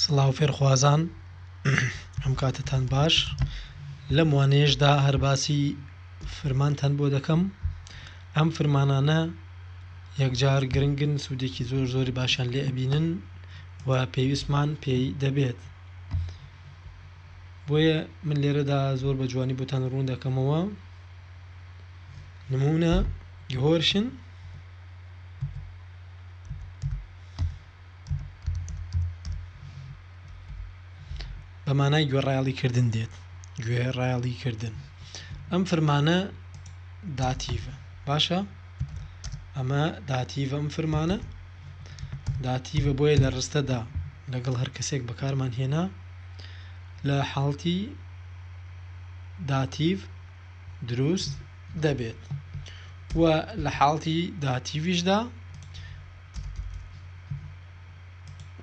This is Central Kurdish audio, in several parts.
سڵاو فێرخوازان ئەم کاتتان باش لەم وانەیەشدا هەر باسی فرمانتان بۆ دەکەم ئەم فرمانانە یەکجار گرنگن سوودێکی زۆر زۆری باشیان لێ ئەبینن و پێویستمان پێی دەبێت بۆیە من لێرەدا زۆر بە جوانی بۆتان ڕوون دەکەمەوە نمونە گهۆرشن بە مانای گوێڕایەڵی کردن دێت گوێ ڕایەڵی کردن ئەم فرمانە داتیڤە باشە ئەمە داتیڤە ئەم فرمانە داتیڤە بۆیە لە ڕستەدا لەگەڵ هەر کەسێک بەکارمان هێنا لە حاڵتی داتیڤ دروست دەبێت و لە حاڵتی داهاتیویشدا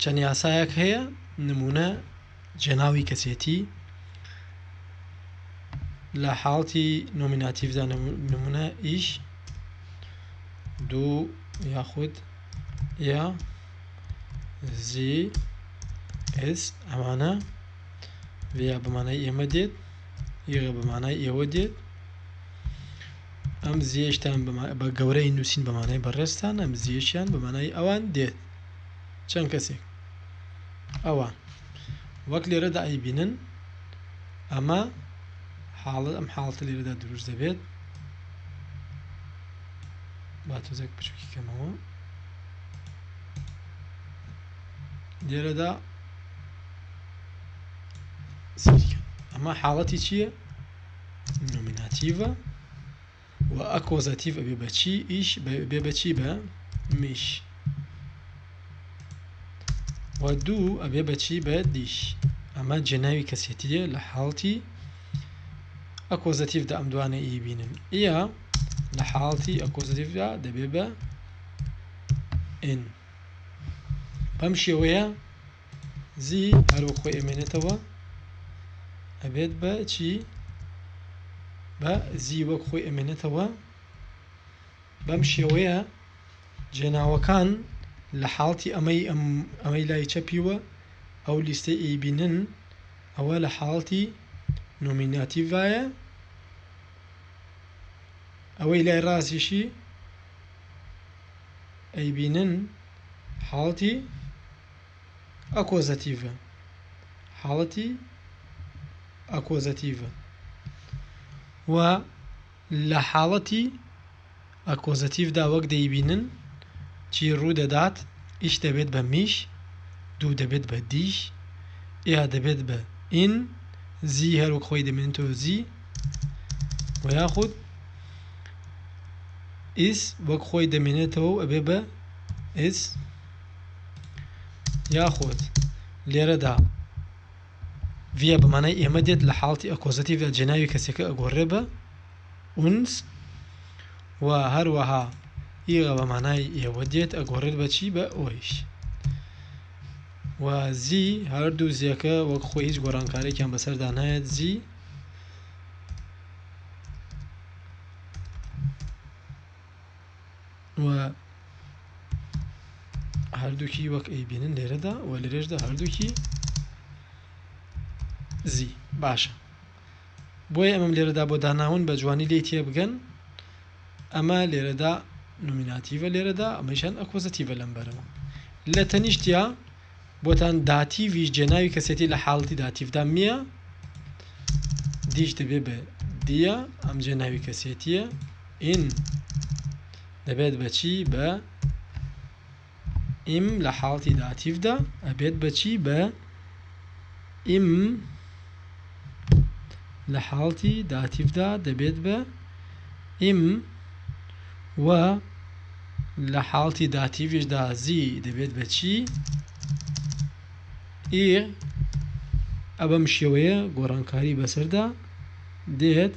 چەند یاسایەک هەیە نمونە جێناوی کەسێتی لە حاڵتی نۆمیناتیڤدا نمونە ئیش دوو یاخود یا زی ئس ئەمانە لێ بمانای ئێمە دێت یغە بە مانای ئێوە دێت ئەم زیێشتان بە گەورەی نووسین بە مانای بەڕێستان ئەم زیێشیان بە مانای ئەوان دێت چەند کەسێک ئەوان وەک لێرەدا ئەی بینن ئەمە حاڵە ئەم حاڵتە لێرەدا دروست دەبێت با تۆزێک پشکی کەمەوە لێرەدا سەیرکە ئەمە حاڵەتی چییە نۆمیناتیڤە و ئەکۆزەتیڤ ئەبێ بەچی ئیش بێ بەچی بە میش و دوو ئەبێ بەچی بە دیش ئەمە جێناوی کەسێتیە لە حاڵتی ئەکۆزەتیفدا ئەم دوانە ئی بینن ئە لە حاڵتی ئەکۆزەتیفدا دەبێ بە ئین بەم شێوەیە زی هەرو خۆی ئەمێنێتەوە ئەبێت بە چی بە زی وەک خۆی ئەمێنێتەوە بەم شێوەیە جێناوەکان لە حاڵتی ئەمەی ئەمەی لای چەپیوە ئەو لیستەی ئەیبینن ئەوە لە حاڵتی نۆمیناتیڤایە ئەوەی لای ڕاستیشی ئەیبینن حاڵتی ئەکۆزەتیڤە حاڵەتی ئەکۆزەتیڤە و لە حاڵەتی ئەکۆزەتیڤدا وەک دەیبینن چی ڕوو دەدات ئیش دەبێت بە میش دوو دەبێت بە دیش ئێ دەبێت بە ئین زی هەروەک خۆی دەمێنێتەوە زی و یاخود ئیس وەک خۆی دەمێنێتەوە ئەبێ بە ئیس یاخود لێرەدا ڤە بەمانای ئێمە دێت لە حاڵتی ئەکۆزەتیڤدا جێناوی کەسەکە ئەگۆڕێ بە ئونس و هەروەها ئیغە بەمانای ئێوە دێت ئەگۆڕێت بەچی بە ئۆیش و زی هەردوو زیەکە وەک خۆی هیچ گۆڕانکارێکیان بەسەردا نایەت زی و هەردووکی وەک ئەیبینن لێرەدا و لەرێژدا هەردووکی زی باشە بۆیە ئەمەم لێرەدا بۆ داناون بە جوانی لی تێ بگەن ئەمە لێرەدا نومیناتیڤە لێرەدا ئەمەشان ئەکۆزەتیڤە لەم بەرەوە لە تەنیشتیا بۆتان داتیڤیش جێناوی کەسێتی لە حاڵەتی داتیڤدا میە دیش دەبێ بە دیە ئەم جێناوی کەسێتیە ئین دەبێت بەچی بە ئیم لە حاڵەتی داتیڤدا ئەبێت بەچی بە ئیم لە حاڵتی داتیڤدا دەبێت بە، یم، و لە حاڵتی داتیڤیشدا زی دەبێت بە، چی، ی. ئ بەم شێوەیە گۆڕانکاری بەسەردا دێت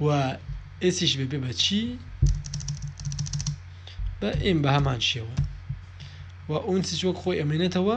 و ئێسیش بەبێ بە، چی، بە، یم، بە هەمان شێوە و ئونسیش وەک خۆی ئەمێنێتەوە.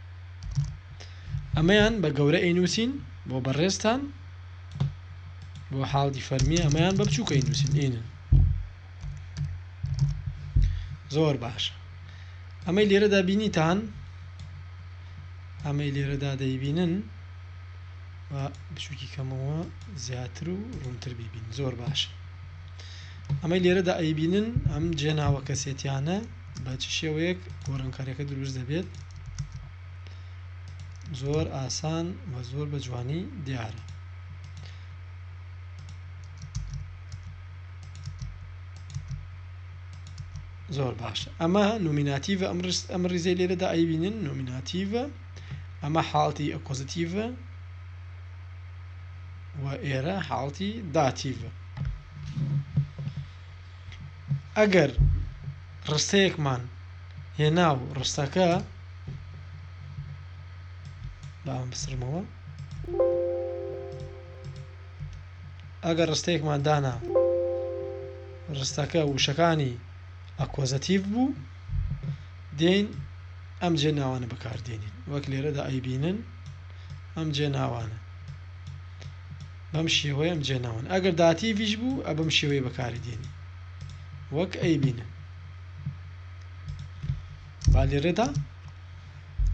ئەمەیان بە گەورە ئەینووسین بۆ بەڕێزتان بۆ حاڵی فەرمی ئەمەیان بە بچووکە ئەینووسین ئینن زۆر باش ئەمەی لێرەدا بینیتان ئەمەی لێرەدا دەیبینن بچووکی کەمەوە زیاتر و ڕوونتر بیبین زۆر باش ئەمەی لێرەدا ئەیبینن ئەم جێناوە کەسێتیانە بە چ شێوەیەک گۆڕانکاریەکە دروست دەبێت زۆر ئاسان و زۆر بە جوانی دیارە زۆر باش ئەمە نومیناتیڤە ئەم ڕست ئەم ڕیزەی لێرەدا ئەیبینن نومیناتیڤە ئەمە حاڵتی ئەپۆزیتیڤە و ئێرە حاڵتی داتیڤە ئەگەر ڕستەیەکمان هێنا و ڕستەکە باوەم بسرمەوە ئەگەر ڕستەیەکمان دانا ڕستەکە وشەکانی ئەکۆزەتیڤ بوو دێن ئەم جێ ناوانە بەکاردێنین وەک لێرەدا ئەیبینن ئەم جێ ناوانە بەم شێوەیەم جێ ناون ئەگەر داتیڤیش بوو ئە بەم شێوەی بەکاری دێنی وەک ئەی بینە با لێرەدا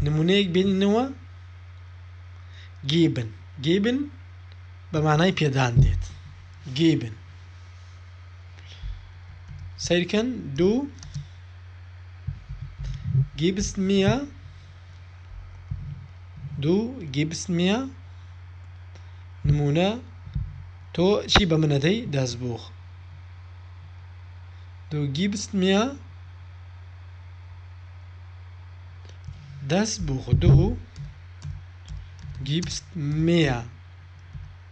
نمونەیەک بینینەوە گیبن گیبن بە مانای پێدان دێت گیبن سیرکەن دوو گیبست میە دوو گیبس نیە نمونە تۆ چی بە منە دەی دەست بوخ دوو گیبس نیە دەست بوخ دوو گیبس میە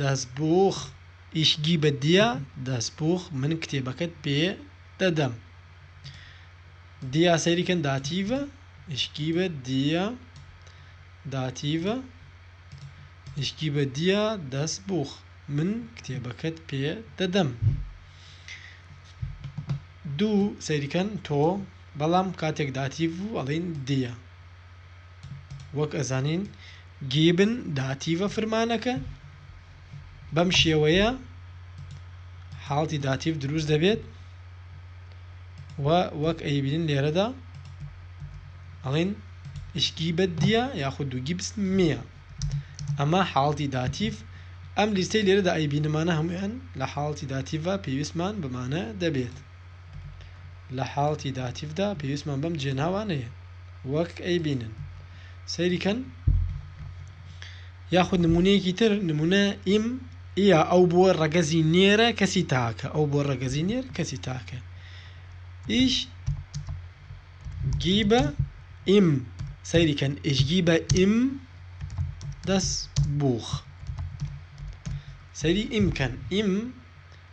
دەستبووخ ئیش گی بە دیا دەستبووخ من کتێبەکەت پێ دەدەم دیا سەیری کەن داتیڤە ئیشکی بە دیا داتیڤە ئیشکی بە دیا دەستبووخ من کتێبەکەت پێ دەدەم دوو سەیریکەن تۆ بەڵام کاتێک داتیڤ و ئەڵین دیە وەک ئەزانین گیبن داتیڤە فرمانەکە بەم شێوەیە حاڵتی داتیڤ دروست دەبێت و وەک ئەیبینین لێرەدا ئەڵین ئشکی بەدیە یاخود دوو گیبس میە ئەمە حاڵتی داتیڤ ئەم لیستەی لێرەدا ئەیبینمانە هەمویان لە حاڵتی داتیڤە پێویستمان بمانە دەبێت لە حاڵەتی داتیڤدا پێویستمان بەم جێناوانەیە وەک ئەیبینن سەیریکەن یاخود نمونەیەکی تر نمونە ئیم ئیا ئەو بۆ ڕەگەزی نێرە کەسی تاکە ئەو بۆ ڕەگەزی نێر کەسی تاکە ئیش گیبە ئیم سەیریکەن ئشگی بە ئیم دەست بوخ سەری ئیمکەن ئیم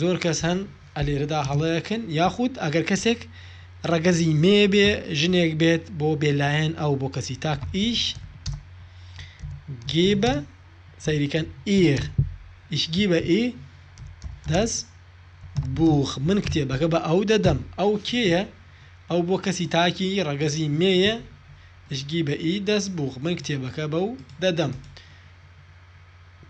زۆر کەس هەن ئەلێرەدا هەڵەیەکن یاخود ئەگەر کەسێک ڕەگەزی مێ بێ ژنێک بێت بۆ بێلایەن ئەو بۆ کەسی تاک ئیش گیبە سەیریکەن ئیر ئیشگیبە ئی دەس بوخ من کتێبەکە بە ئەو دەدەم ئەو کێیە ئەو بۆ کەسی تاکی ڕەگەزی مێیە ئشگی بە ئی دەست بوخ من کتێبەکە بەو دەدەم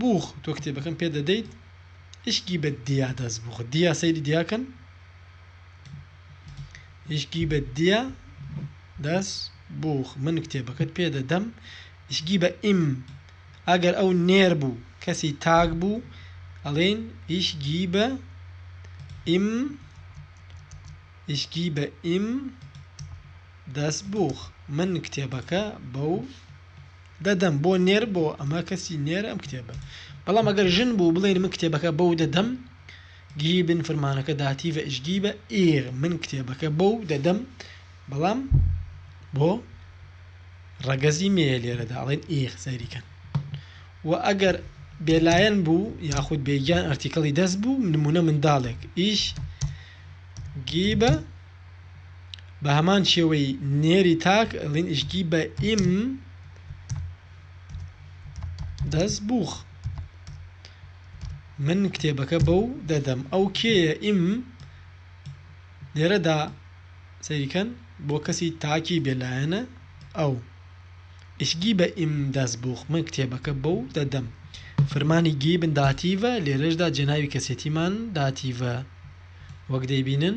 بووخ تۆ کتێبەکەم پێ دەدەیت اشگی بە دیا دەست بخۆ دیا سەیری دیاکەن اشگی بە دیا دەست بووخ من کتێبەکەت پێ دەدەم اشگی بە ئیم ئەگەر ئەو نێر بوو کەسی تاک بوو ئەڵێن اشگی بە ئیم اشگی بە ئیم دەست بووخ من کتێبەکە بەو دەدەم بۆ نێر بۆ ئەمە کەسی نێر ئەم کتێبە بەڵام ئەگەر ژن بوو بڵێن من کتێبەکە بەو دەدەم گیبن فرمانەکە داتیڤە ئشگیبە ئیر من کتێبەکە بەو دەدەم بەڵام بۆ ڕەگەزی مێ لێرەدا ئەڵێن ئیر سەیریکەن و ئەگەر بێلایەن بوو یاخود بێگیان ئەرتیکەڵی دەست بوو نمونە منداڵێک ئیش گیبە بە هەمان شێوەی نێری تاک ئەڵین ئشگی بە ئیم دەست بووخ من کتێبەکە بەو دەدەم ئەو کێیە ئیم لێرەدا سەیریکەن بۆ کەسی تاکی بێلایەنە ئەو ئشگی بە ئیم دەست بووخ من کتێبەکە بەو دەدەم فرمانی گی بنداتیڤە لێرەشدا جێناوی کەسێتیمان داتیڤە وەک دەیبینن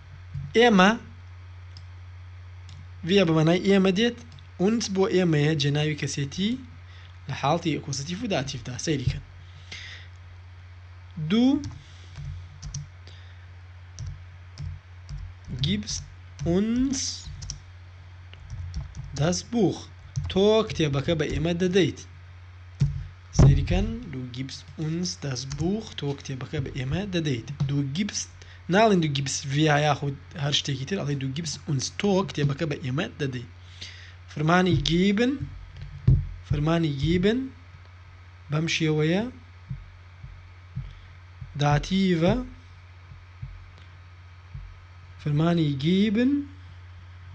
ئێمە ڤە بە مانای ئێمە دێت ئونس بۆ ئێمەیە جێناوی کەسێتی لە حاڵتی ئەکۆزیتیف و داتیفدا سەیریکەن دوو گیبس ئونس دەست بوخ تۆ کتێبەکە بە ئێمە دەدەیت سەیریکەن دوو گیبس ئونس دەست بوخ تۆ کتێبەکە بە ئێمە دەدەیت دوو گیبس ناڵێن دو گیبس ڤیا یاخود هەر شتێکی تر ئەڵێ دو گیبس ئونس تۆ کتێبەکە بە ئێمە دەدەی فرمانی گیبن فرمانی گیبن بەم شێوەیە داتیڤە فرمانی گیبن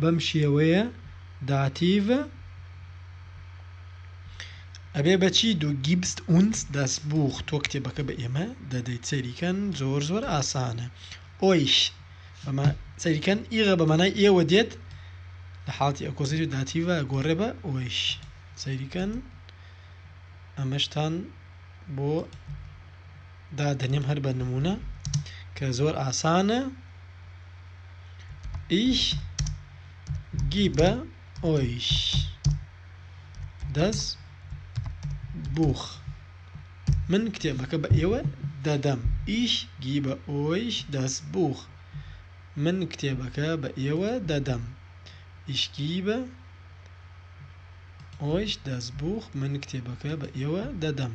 بەم شێوەیە داتیڤە ئەبێ بەچی دو گیبست ئونس داس بوخ تۆ کتێبەکە بە ئێمە دەدەیت سەیری کەن زۆر زۆر ئاسانە ئۆیش بەمە سەیری کەن ئیغە بە مانای ئێوە دێت لە حاڵتی ئەکۆزری داتیڤە گۆڕێ بە ئۆیش سەیری کەن ئەمەشتان بۆ دادەنێم هەر بە نمونە کە زۆر ئاسانە ئیش گی بە ئۆیش دەس بوخ من کتێبەکە بە ئێوە دەدەم ئیش گی بە ئۆیش دەس بوخ من کتێبەکە بە ئێوە دەدەم ئیشکی بە ئۆیش دەس بوخ من کتێبەکە بە ئێوە دەدەم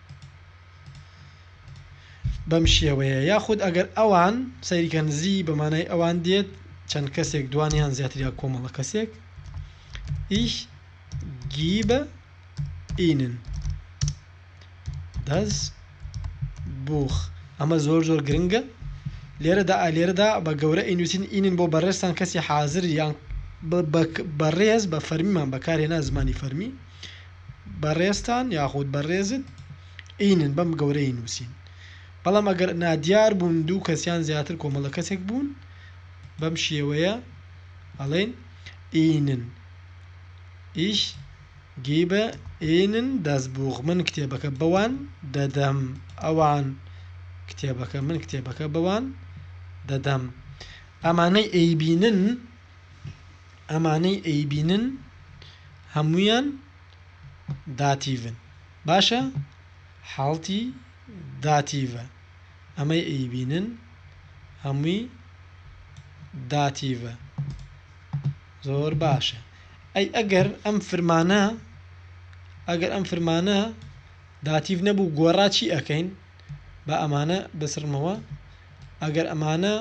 بەم شێوەیە یاخود ئەگەر ئەوان سەیریکە نزی بە مانای ئەوان دێت چەند کەسێک دوان یان زیاتریا کۆمەڵە کەسێک ئیش گیبە ئینن دەس بوخ ئەمە زۆر زۆر گرنگە لێرەدا ئالێرەدا بە گەورە ئینوسین ئینن بۆ بەڕێستان کەسی حازر یان بەڕێز بە فەرمیمان بەکارێنا زمانی فەرمی بەڕێزتان یاخود بەڕێزت ئینن بەم گەورەی نووسین بەڵام ئەگەر نادیار بوون دوو کەسیان زیاتر کۆمەڵە کەسێک بوون بەم شێوەیە ئەڵێن ئینن ئیش گیبە ئینن دەستبووغ من کتێبەکە بەوان دەدەم ئەوان کتێبەکە من کتێبەکە بەوان دەدەم ئەمانەی ئەیبینن ئەمانەی ئەیبینن هەموویان داتیڤن باشە حاڵتی داتیڤە ئەمەی ئەیبینن هەمووی داتیڤە زۆر باشە ئەی ئەگەر ئەم فرمانە ئەگەر ئەم فرمانە داتیڤ نەبوو گۆڕا چی ئەەکەین بە ئەمانە بسڕمەوە ئەگەر ئەمانە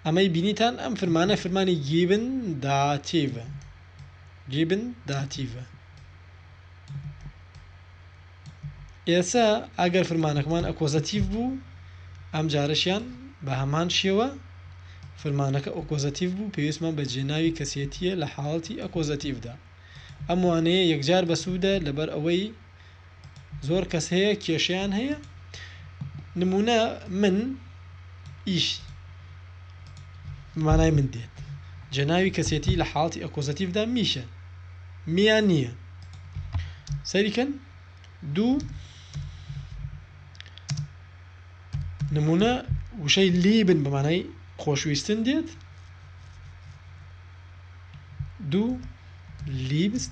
ئەمەی بینیتان ئەم فرمانە فرمانی گیبن داتیڤە گیبن داتیڤە ئێسا ئەگەر فرمانەکەمان ئەکۆزەتیڤ بوو ئەم جارەشیان بە هەمان شێوە فرمانەکە ئۆکۆزەتیڤ بوو پێویستمان بە جێناوی کەسێتیە لە حاڵەتی ئەکۆزەتیڤدا ئەم وانەیە یەکجار بەسوودە لەبەر ئەوەی زۆر کەس هەیە کێشیان هەیە نمونە من ئیش مانای من دێت جەناوی کەسێتی لە حاڵی ئەکۆزەتیفدا میشە میان نییە سەریکەن دوو نمونە وشەی لی بن بەمانای خۆشویستن دێت دوو لیبست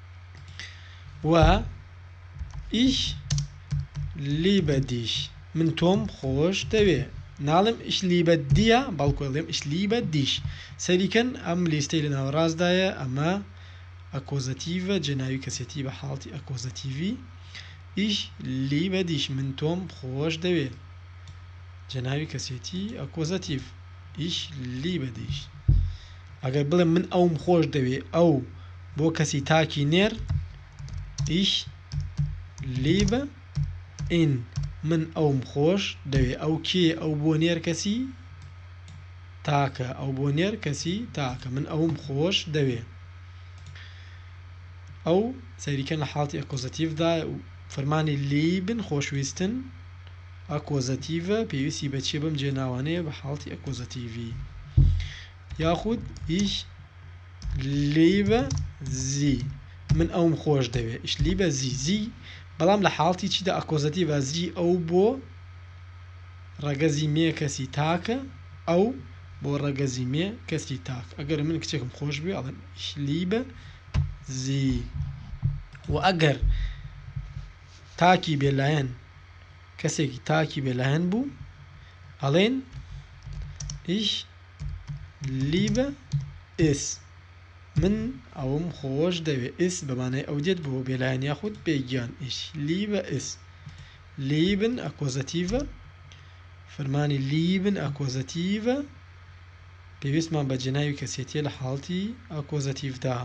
و ئیش لیبە دیش من تۆم خۆش دەوێ ناڵم ئیش لیبە دیە بەڵکو ئەڵێم ئیش لیبە دیش سەریکەن ئەم لیستەی لە ناوەڕاستدایە ئەمە ئەکۆزەتیڤە جێناوی کەسێتی بە حاڵتی ئەکۆزەتیڤی ئیش لیبە دیش من تۆم خۆش دەوێ جێناوی کەسێتی ئەکۆزەتیڤ ئیش لیبە دیش ئەگەر بڵێم من ئەوم خۆش دەوێ ئەو بۆ کەسی تاکی نێر ئیش لیبە ئین من ئەوم خۆش دەوێ ئەو کێ ئەو بۆ نێر کەسی تاکە ئەو بۆ نێر کەسی تاکە من ئەوم خۆش دەوێ ئەو سەریکە لە حاڵتی ئەکۆزەتیفدا و فەرمانی لیبن خۆشویستن ئاکۆزەتیڤە پێویستی بە چیە بەم جێناوانەیە بە حاڵتی ئەکۆزەتیڤی یاخود هیچ لیبە زی من ئەوم خۆش دەوێت ئیش لیبە زی زی بەڵام لە حاڵتی چیدا ئەکۆزەتیڤە زی ئەو بۆ ڕەگەزی مێ کەسی تاکە ئەو بۆ ڕەگەزی مێ کەسی تاک ئەگەر من کچێکم خۆش بێ ئەڵێم ئیش لیبە زی و ئەگەر تاکی بێلایەن کەسێکی تاکی بێلایەن بوو ئەڵێن ئیش لیبە ئس من ئەوم خۆش دەوێ ئس بەمانای ئەو دێت بۆ بێلایەن یاخود بێگیان ئیش لیبە ئس لیبن ئەکۆزەتیڤە فەرمانی لیبن ئەکۆزەتیڤە پێویستمان بە جێناوی کەسێتیە لە حاڵتی ئەکۆزەتیڤدا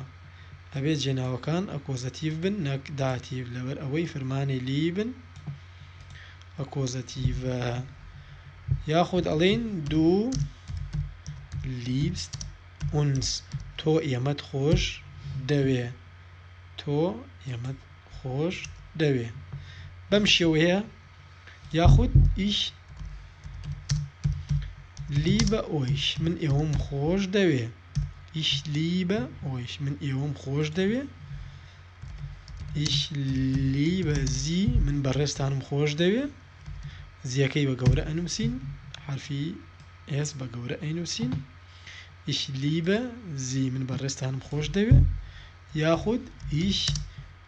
ئەبێ جێناوەکان ئەکۆزەتیڤ بن نەک داتیڤ لەبەر ئەوەی فرمانی لی بن ئەکۆزەتیڤە یاخود ئەڵین دوو لیبست ئونس تۆ ئێمەت خۆش دەوێ تۆ ئێمەت خۆش دەوێ بەم شێوەیە یاخود ئیش لی بە ئۆیش من ئێوەم خۆش دەوێ ئیش لی بە ئۆیش من ئێوەم خۆش دەوێ ئیش لی بە زی من بەڕێستانم خۆش دەوێ زیەکەی بە گەورە ئەنووسین حرفی ئێس بە گەورە ئەینووسین ئیش لی بە زی من بەڕێستانم خۆش دەوێ یاخود ئیش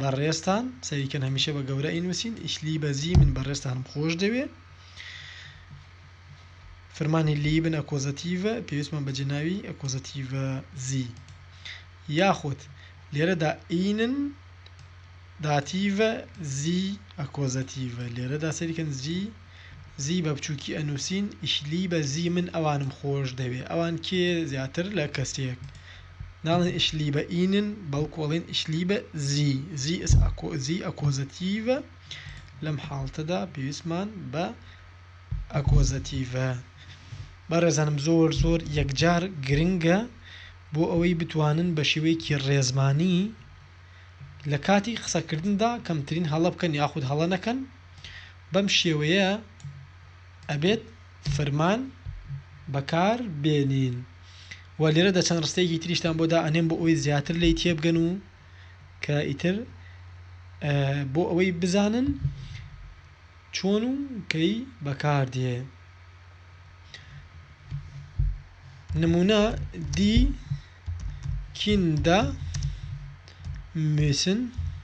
بەڕێزتان سەیری کەن هەمیشە بە گەورە ئەینوسین ئیش لی بەزی من بەڕێزتانم خۆش دەوێ فرمانی لی بن ئەکۆزەتیڤە پێویستمان بە جێناوی ئەکۆزەتیڤە زی یاخود لێرەدا ئینن داتیڤە زی ئەکۆزەتیڤە لێرەدا سەریکەن زی زی بە بچووکی ئەنووسین ئیشلی بە زی من ئەوانم خۆش دەوێ ئەوان کێ زیاتر لە کەسێک ناڵێن ئیش لیبە ئینن بەڵکو ئەڵێن ئیش لیبە زی زی ئس ئەکۆ زی ئەکۆزەتیڤە لەم حاڵتەدا پێویستمان بە ئەکۆزەتیڤە بەڕێزانم زۆر زۆر یەکجار گرنگە بۆ ئەوەی بتوانن بە شێوەیەکی ڕێزمانی لە کاتی قسەکردندا کەمترین هەڵە بکەن یاخود هەڵە نەکەن بەم شێوەیە ئەبێت فرمان بەکار بێنین و لێرەدا چەند ڕستەیەکی تریشتان بۆ دا ئەنێم بۆ ئەوەی زیاتر لی تێبگەن و کە ئیتر بۆ ئەوەی بزانن چۆن و کەی بەکار دێ نمونە دی کیندا میسن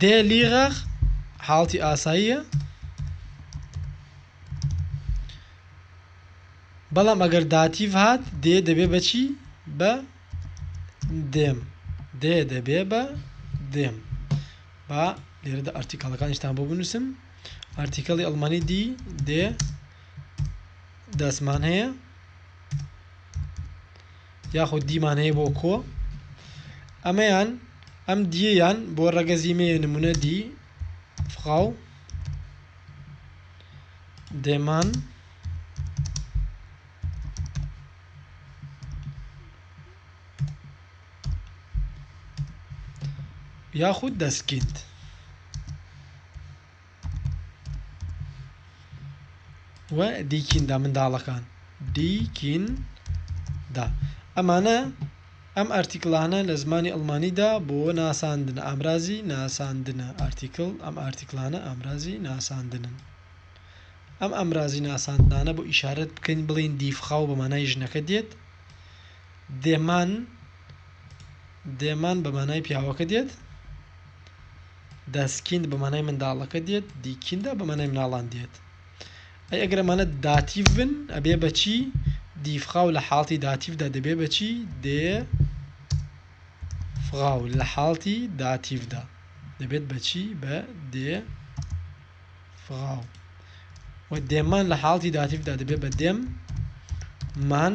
دێ لیغەغ حاڵتی ئاساییە بەڵام ئەگەر داتیڤ هات دێ دەبێ بەچی بە دێم دێ دەبێ بە دێم با لێرەدا ئەرتیکەڵەکانیشتان بۆ بنووسم ئەرتیکەڵی ئەڵمانی دی دێ دەستمان هەیە یاخود دیمان هەیە بۆ کۆ ئەمەیان ئەم دییەیان بۆ ڕەگەزی مێ نمونە دی فقاو دێمان یاخود دەستکیند و دیکیندا منداڵەکان دیکیندا ئەمانە ئەم ئارتیکلانە لە زمانی ئەڵمانیدا بۆ ناساندن ئامرازی ناساندنە ئارتیکل ئەم ئارتیکلانە ئامرازی ناساندنن ئەم ئەمرازی ناساندانە بۆ ئیشارەت بکەین بڵین دیفخاو بە مانای ژنەکە دێت دێمان دێمان بە مانای پیاوەکە دێت Das Kind بە مانای منداڵەکە دێت دی کیندا بە مانای مناڵان دێت ئەی ئەگەر ئەمانە داتیڤ بن ئەبێ بەچی دیفخاو لە حاڵتی داتیڤدا دەبێ بەچی دێ فغاو لە حاڵتی داتیڤدا دەبێت بەچی بە دێ فغاو و دێمان لە حاڵتی داتیڤدا دەبێت بە دێم مان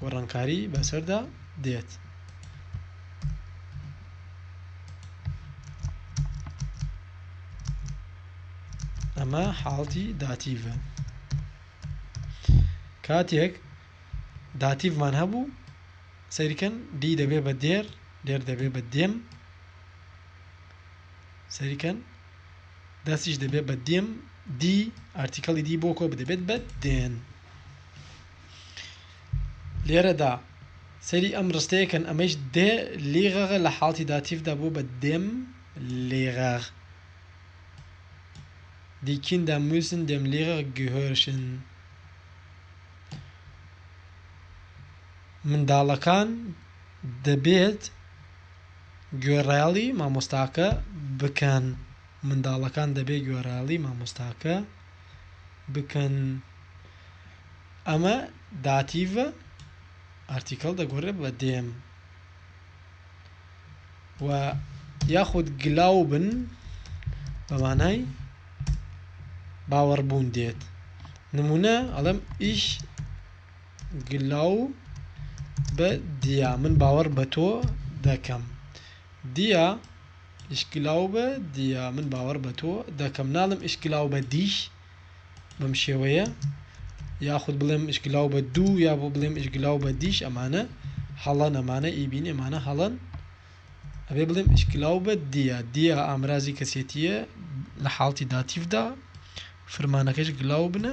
گۆڕانکاری بەسەردا دێت. ئەمە حاڵتی داتیڤە کاتێک داتیڤمان هەبوو سەیرکەن دی دەبێ بە دێر دێر دەبێ بە دێم سەریکەن دەستیش دەبێت بە دێم دی ئارتیکەڵی دی بۆ کۆ بدەبێت بە دێن لێرەدا سەیری ئەم ڕستەیە کەن ئەمەیش دێ لیغەغە لە حاڵتی داتیفدا بوو بە دێم لیغەغ دی کیندا موسن دێم لیغەغ گهۆرشن منداڵەکان دەبێت گوێڕایەڵی مامۆستاکە بکەن منداڵەکان دەبێت گوێڕایەڵی مامۆستاکە بکەن ئەمە داتیڤە ئارتیکەڵ دەگۆڕێ بە دێم و یاخود گلاو بن بەمانای باوەڕبوون دێت نمونە ئەڵم ئیش گلاو بە دیا من باوەڕ بە تۆ دەکەم دیا ئیشکلاوبە دیا من باوەڕ بە تۆ دەکەم ناڵێم ئیشکلاوبە دیش بەم شێوەیە یاخود بڵێم ئیشکلاوبە دوو یا بۆ بڵێم ئیشکلاوبە دیش ئەمانە هەڵەن ئەمانە ئیبین ئەمانە هەڵەن ئەبێ بڵێم ئیشکلاوبە دیا دیا ئامرازی کەسێتیە لە حاڵتی داتیفدا فرمانەکەش گلاو بنە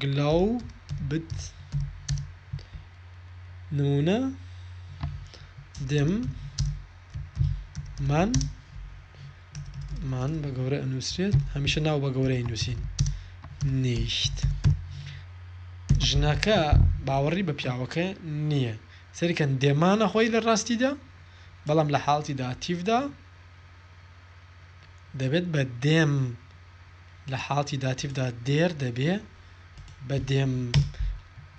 گلاوبت نمونە دم من من بە گەورە ئەنووسرێت هەمیشە ناو بە گەورەی نووسین نیشت ژنەکە باوەڕی بە پیاوەکە نییە سەرکەن دێمانە خۆی لە ڕاستیدا بەڵام لە حاڵتی داعاتیفدا دەبێت بە دێم لە حاڵتی داتیڤدا دێر دەبێ بە دێم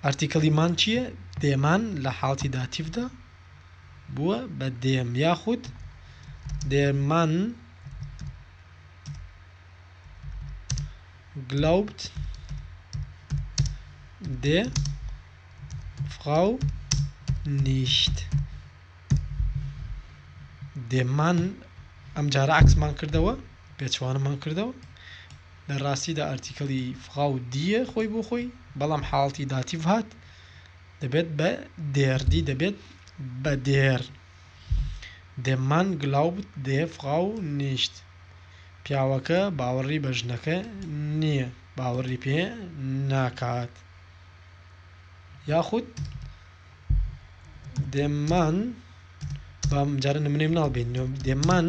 ئەرتیکەڵی مان چییە دێمان لە حاڵتی داتیڤدا بووە بە دێم یاخود دێمان گلاوبت دێ فڕاو نیشت دێمان ئەم جارە عکسمان کردەوە پێچوانم هەڵکردەوە لە ڕاستیدا ئەرتیکەڵی فغاو دیە خۆی بۆ خۆی بەڵام حاڵتی داتیڤ هات دەبێت بە دێردی دەبێت بە دێر دێمان گلاوبت دێ فغاو نیشت پیاوەکە باوەڕی بە ژنەکە نییە باوەڕی پێ ناکات یاخود دێمان بەم جارە نمونەی مناڵ بین دێمان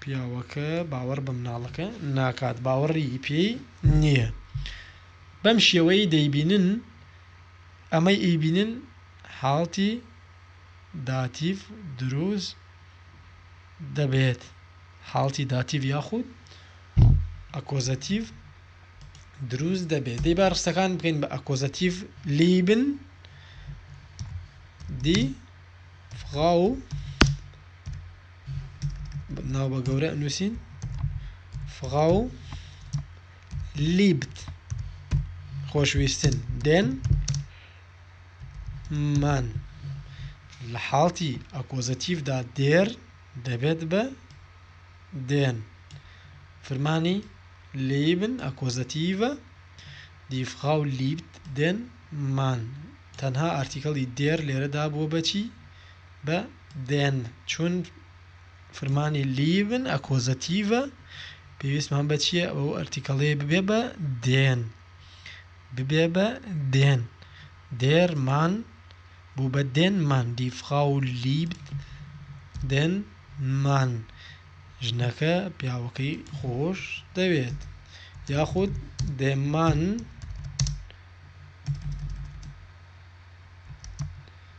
پیاوەکە باوەڕ بە مناڵەکە ناکات، باوەڕی پێی نییە. بەم شێوەیەی دەیبینن، ئەمەی ئیبینن حاڵتی داتیڤ دروست دەبێت، حاڵتی داتیڤ یاخود ئەکۆزەتیڤ دروست دەبێت. دەی با ڕستەکان بکەین بە ئەکۆزەتیڤ، لیبن دی فغاو. ناو بە گەورە نووسین فغاو لیبت خۆشویستن دێن من لە حاڵتی ئەکۆزەتیفدا دێر دەبێت بە دێن فرمانی لیبن ئەکۆزەتیڤە دیفغا و لیبت دێن مان تەنها ئارتیکڵی دێر لێرەدا بووە بەچی بە دێن چون فرمانی لیڤن ئەکۆزەتیڤە پێویستمان بە چییە ئەو ئەرتیکەڵەیە ببێ بە دێن ببێ بە دێن دێرمان بوو بە دێنمان دیفغا و لیبت دێن مان ژنەکە پیاوەکەی خۆش دەوێت یاخود دێمان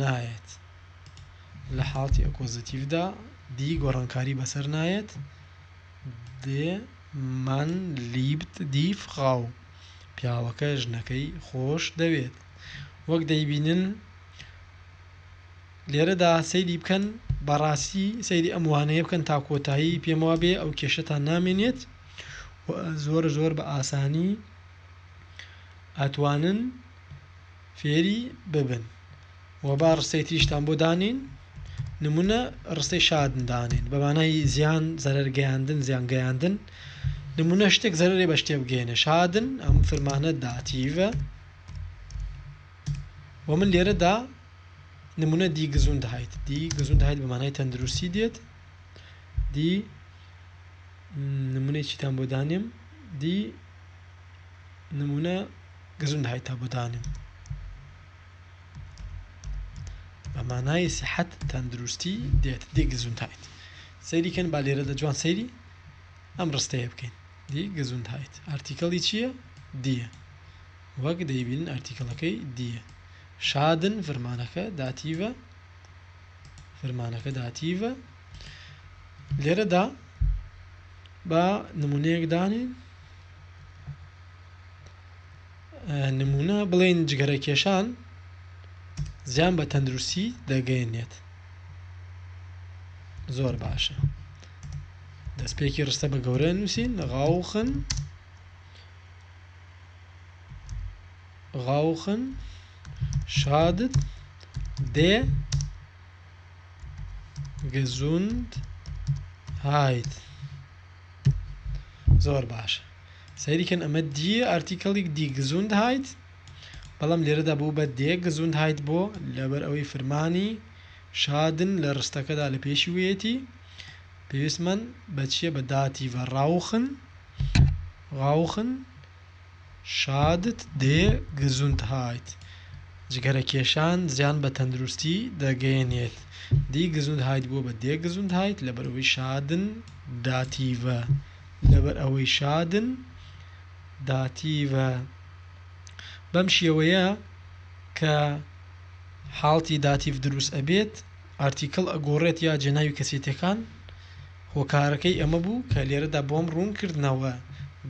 نایەت لە حاڵتی ئەکۆزەتیڤدا دی گۆڕانکاری بەسەر نایەت دێ من لیبت دی فڕاو پیاوەکە ژنەکەی خۆش دەوێت وەک دەیبینن لێرەدا سەیری بکەن بەڕاستی سەیری ئەم وانەیە بکەن تا کۆتایی پێم وابێ ئەو کێشتان نامێنێت زۆر زۆر بە ئاسانی ئەتوانن فێری ببن و با ڕستەی تریشتان بۆ دانێین نمونە ڕستەی شادن دانێن بە مانای زیان زەرەر گەیاندن زیان گەیاندن نمونە شتێک زەرەێ بە شتێ بگەێنە شادن ئەم فرمانە داتیڤە و من لێرەدا نمونە دی گزون دەهیت دی گزون داهیت بە مانای تەندروستی دێت دی نمونەی چیتان بۆ دانێم دی نمونە گەزوندهایت هەبوو دانێم بە مانای سیحەت تەندروستی دێت دی گەزوندهایت سەیری کەن با لێرەدا جوان سەیری ئەم ڕستەیە بکەین دی گەزوندهایت ئارتیکەڵی چییە دیە وەک دەیبینن ئارتیکەڵەکەی دیە شادن فرمانەکە داتیڤە فرمانەکە داتیڤە لێرەدا بە نمونەیەک دانێن نموونە بڵێن جگەرەکێشان زیان بە تەندروستی دەگەێنێت زۆر باشە دەستپێکی ڕستە بە گەورە نووسین غاوخن غاوخن شادت دێ گەزوند هایت زۆر باش سەیری کەن ئەمە دیە ئارتیکەڵیک دی گزوند هایت بەڵام لێرەدا بوو بە دێ گزوند هایت بۆ لەبەر ئەوەی فرمانی شادن لە ڕستەکەدا لە پێشی وێتی پێویستمان بەچیە بە داتی ڤەڕاوخن ڕاوخن شادت دێ گزوند هایت جگەرە کێشان زیان بە تەندروستی دەگەیەنێت دی گزوند هایت بووە بە دێ گزوند هایت لەبەرەوەی شادن داتیڤە لەبەر ئەوەی شادن داتیڤە بەم شێوەیە کە حاڵتی داتیڤ دروست ئەبێت ئارتیکل ئەگۆڕێت یا جێناوی کەسێتەکان هۆکارەکەی ئەمە بوو کە لێرەدا بۆم ڕوون کردنەوە،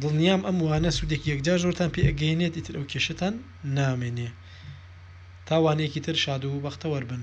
دڵنیام ئەم وانە سوودێکی یەکجار زۆرتان پێ ئەگەیەنێت ئیتر ئەو کێشەتان نامێنێ. تا وانەیەکی تر شاد و بەختەوەر بن.